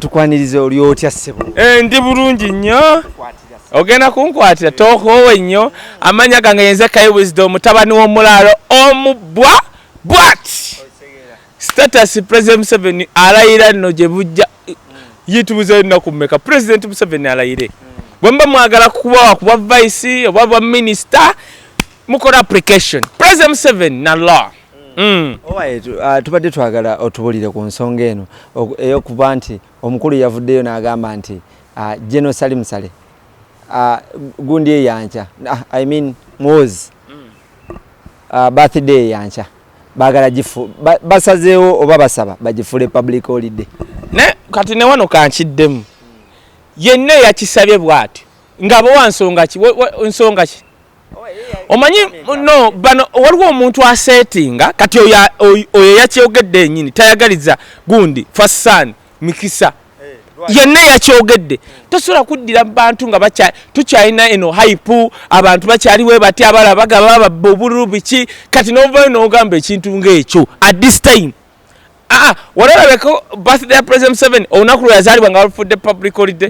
tukwanirize oli otya ssebo eh, ndi bulungi nnyo ogenda kunkwatira tokoowe nnyo amanya gange yenze kai wisdom mutabani w'omulaalo omubwa bwati status president museveni alayira nno gye bujja yitubuzayo nnaku mmeka president museveni alayire bwe muba mwagala kubawa ku bwa vice oba bwa minisita mukola application president museveni na law Mm. Owaye uh, tubadde twagala otubulire ku nsonga eno eyokuba nti omukulu yavuddeyo n'agamba nti uh, General Salim Saleh uh, gundi eyankya uh, I mean Muhoozi mm. uh, birthday eyankya bagala gifu ba, basazeewo oba basaba bagifule public holiday ne kati ne wano kankiddemu yenna yakisabye bw'atyo nga bowa nsonga ki nsonga ki omanyi no bano waliwo omuntu asetinga kati oyo yakyogedde enyini tayagaliza gundi fasan mikisa eh, yenna yakyogedde tosobola kuddira bantu nga tukyalina eno haipu abantu bakyaliwe bati abala bagaba babba obululu biki kati novayo nogamba ekintu ngaekyo at this time aa ah, ah, walabeko birthday ya president seven olunaku lwe yazaalibwa nga balufudde public holiday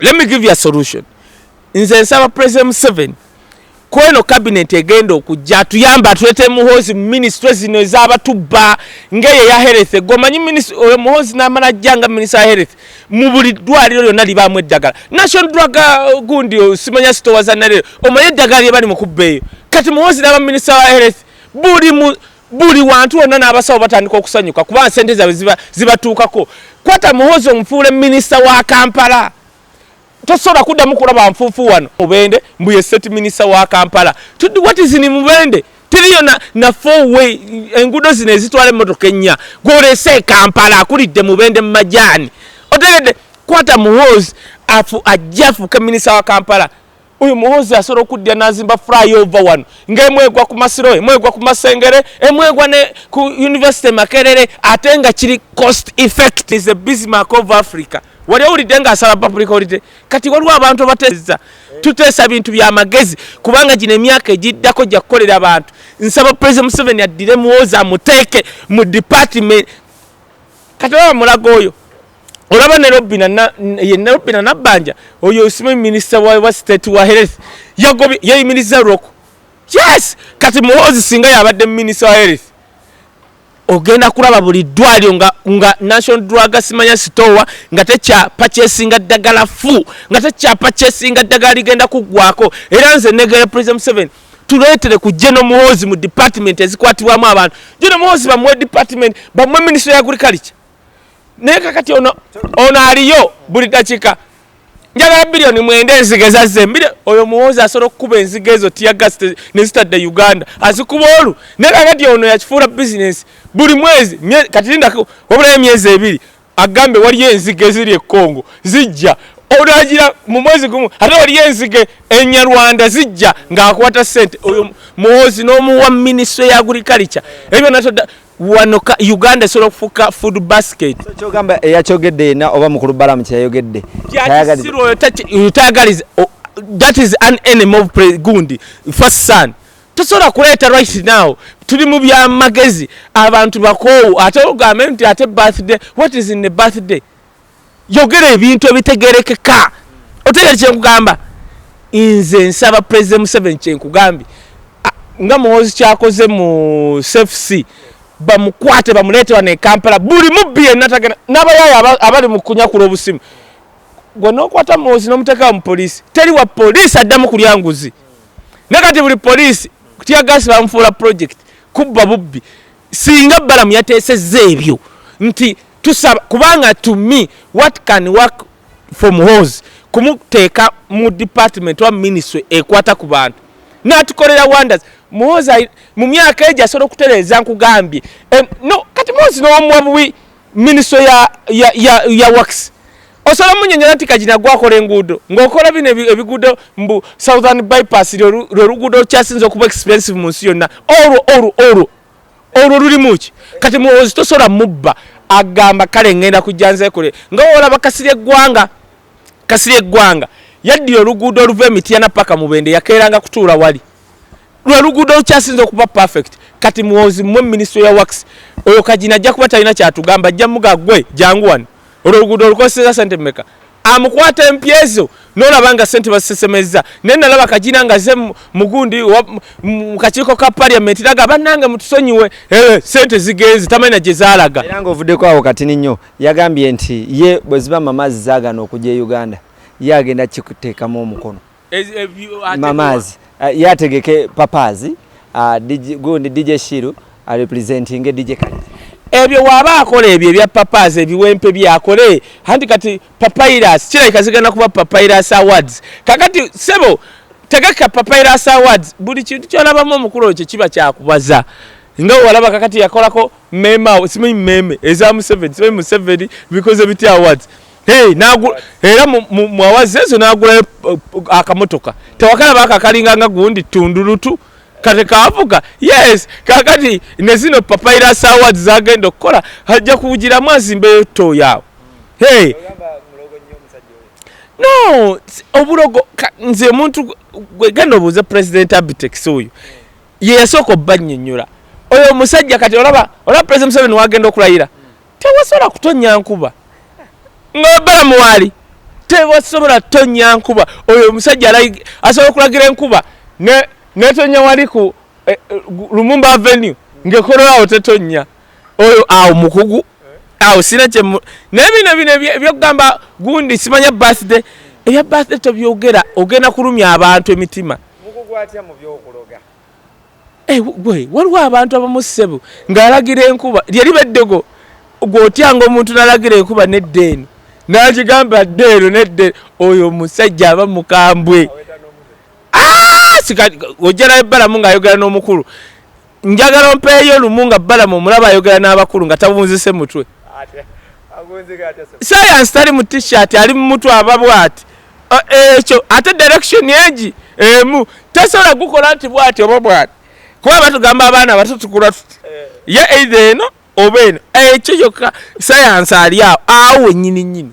let me give you a solution nze nsaba president museven kweno cabinet egenda okujja atuyamba atulete muhozi muministry zino ezabatubba ngeyo ya health gomanyi oyo muhozi namala ajja nga minister ya health mu buli ddwaliro lyonna libaamu eddagala national drug uh, gundi uh, simanya sitowa za nalero omanyi eddagala lyebali mukubba eyo kati muhozi naba minister wa health buli mu buli wantu wonna n'abasawo batandika okusanyuka kuba nsente zaabwe zibatuukako kwata muhozi omufuule minisita wa kampala tosobola kuddamu kulaba nfuufu wano mubende mbuye state minisita wa kampala tudi watizini mubende tiriyo na, na four way enguudo zino ezitwala emmotoka ennya gwolese ekampala akulidde mubende mu majaani otegedde kwata muhozi afu ajja afuuke minisita wa kampala oyo muhoozi asobola okuddira nazimba flyover wano ngaemwegwa ku masiro emwegwa ku masengere emwegwa ne ku university makerere ate nga kiri cost effect is a bismark of africa wali owulidde nga asala public holiday kati waliwo abantu abateeza tuteesa bintu byamagezi kubanga gino emyaka egiddako gya kukolera abantu nsaba president museveni addire muwoozi amuteeke mu department kati baba mulago oyo olaba ne robina yenna robina nabbanja oyo osima minisita wa state wa health yagobye yeyimiriza lwoko yes kati muhoozi singa yabadde minisita wa health ogenda kulaba buli ddwaliro nga, nga national drug simanya sitowa nga tekyapa kyesinga ddagala fu nga tekyapa kyesinga ddagala ligenda kuggwako era nze negera president museven tuleetere ku geno muhoozi mu department ezikwatibwamu abantu geno muhoozi bamuwe department bamuwe minisita ya agriculture naye kakati ono ono aliyo buli dakika njagala biliyoni mwenda enziga ezazza embire oyo muwoozi asobola okukuba enziga ezo tiyagas nezitadde uganda azikuba olu naye kakati ono yakifuula bizinesi buli mwezi kati linda wabulayo emyezi ebiri agambe waliyo enziga eziri ekongo zijja olagira mu mwezi gumu ate waliyo enzige enyarwanda zijja ng'akwata sente oyo muwozi n'omuwa minisitule ya agurikalica ebyo byonna wano uganda esobola okufuuka food basket kyogamba eyakyogedde yena oba mukulu balamu kyeyayogedde tayagaliza that is an enemy of gundi first son tosobola kuleeta right now tuli mu byamagezi abantu bakoowu ate ogambe nti ate birthday what is in the birthday yogera ebintu ebitegerekeka otegere kyenkugamba nze nsaba president museven kyenkugambye nga muwozi kyakoze mu cfc bamukwate bamuleete wano ekampala buli mubbi enatagana nabayayo abali mukunyakula obusimu gwe nokwata muwozi nomutekawo mupoliisi teri wa poliisi addamu kulya nguzi ne kati buli poliisi kutya gasi bamufuula project kubba bubbi singa balamu yateseza ebyo nti tusaba kubanga to me what can work from hose kumuteeka mu department wa ministry ekwata ku bantu natukolera wonders muhoza mu myaka egyo asobola okutereeza nkugambye no kati muhozi nowomuwa buwi ministry ya, ya, ya, ya works osobola munyonyola nti kagina gwakola enguudo ngaokola bino ebiguudo mbu southern bypass lweluguudo olukyasinza okuba expensive mu nsi yonna olwo olwo olwo olwo lulimu ki kati muwozi tosobola mubba agamba kale ngenda kujja nzekole nga wolaba kasiri eggwanga kasiri eggwanga yaddira oluguudo oluva emityana paka mubende yakeeranga kutuula wali lwe luguudo olukyasinza okuba perfect kati muwozi mwe minisitule ya wax oyo kagina ajja kuba talina kyatugamba ajja muga gwe jangu wano olwo oluguudo olukoseza sente meka amukwata empya ezo nolaba nga sente bazisesemezza naye nalaba kagina nga ze mugundi mu kakiiko ka paliamenti naga bannange mutusonyiwe eh, sente zigenze tamanya gye zaalaga era nga ovuddeko awo katini nnyo yagambye nti ye bwe ziba mamazzi zaagana okujja e uganda ye agenda kikuteekamu omukono mamazi uh, yategeke papazi uh, gundi dj shiru arepresentinge uh, dj kale ebyo waba akola ebyo ebya papazi ebiwempe byakole hanti kati papairas kirabika zigenda kuba papairas awards kakati sebo tegeka papairas awards buli kintu kyolabamu omukulu okyo kiba kyakubaza nga walaba kakati yakolako mema simanyi meme eza museveni simanyi museveni bikoze bitya awards Hey, nagu, era mwawazi ezo nagula eh, akamotoka tewakala bakakalinga nga gundi tundulutu kati kavuga yes kakati nezino papaira sawa zagenda okukola hajja kugira mwazi mbe to yawo hey no obulogo nze muntu gwegenda obuuza president abitex oyo yeyasooka obbanyonyola oyo omusajja kati olaba olaba president museveni wagenda okulayira tewasobola kutonnya nkuba ng'oyogala muwaali tewasobola kutonnya nkuba oyo omusajja asobola okulagira enkuba netonnya wali ku eh, eh, lumumba avenue ng'ekololawo tetonnya oyo awo mukugu awo sina kyemu naye bino bino ebyokugamba gundi simanya birthday ebya birthday tobyogera ogenda kulumya abantu emitima mukugu atya mu byokuloga Eh, gwe waliwo abantu abamu ssebo ng'alagira enkuba lyeriba eddogo gweotyanga omuntu nalagira enkuba nedda eno nagigamba dda eno nedda oyo omusajja aba mukambwe ah, ojjalayo balamu ng'ayogera n'omukulu njagala ompeeyo lumu nga balamu omulaba ayogera n'abakulu nga tabunzise mutwe sayansi tali mu tishirt ali mu mutwe aba bwati Eh, ekyo ate direction egi emu tesobola gukola nti bwati oba bwati kuba batugamba abaana bato tukula tuti eh. ye eitha eno oba eno ekyo kyokka sayansi ali awo awo wenyini nyini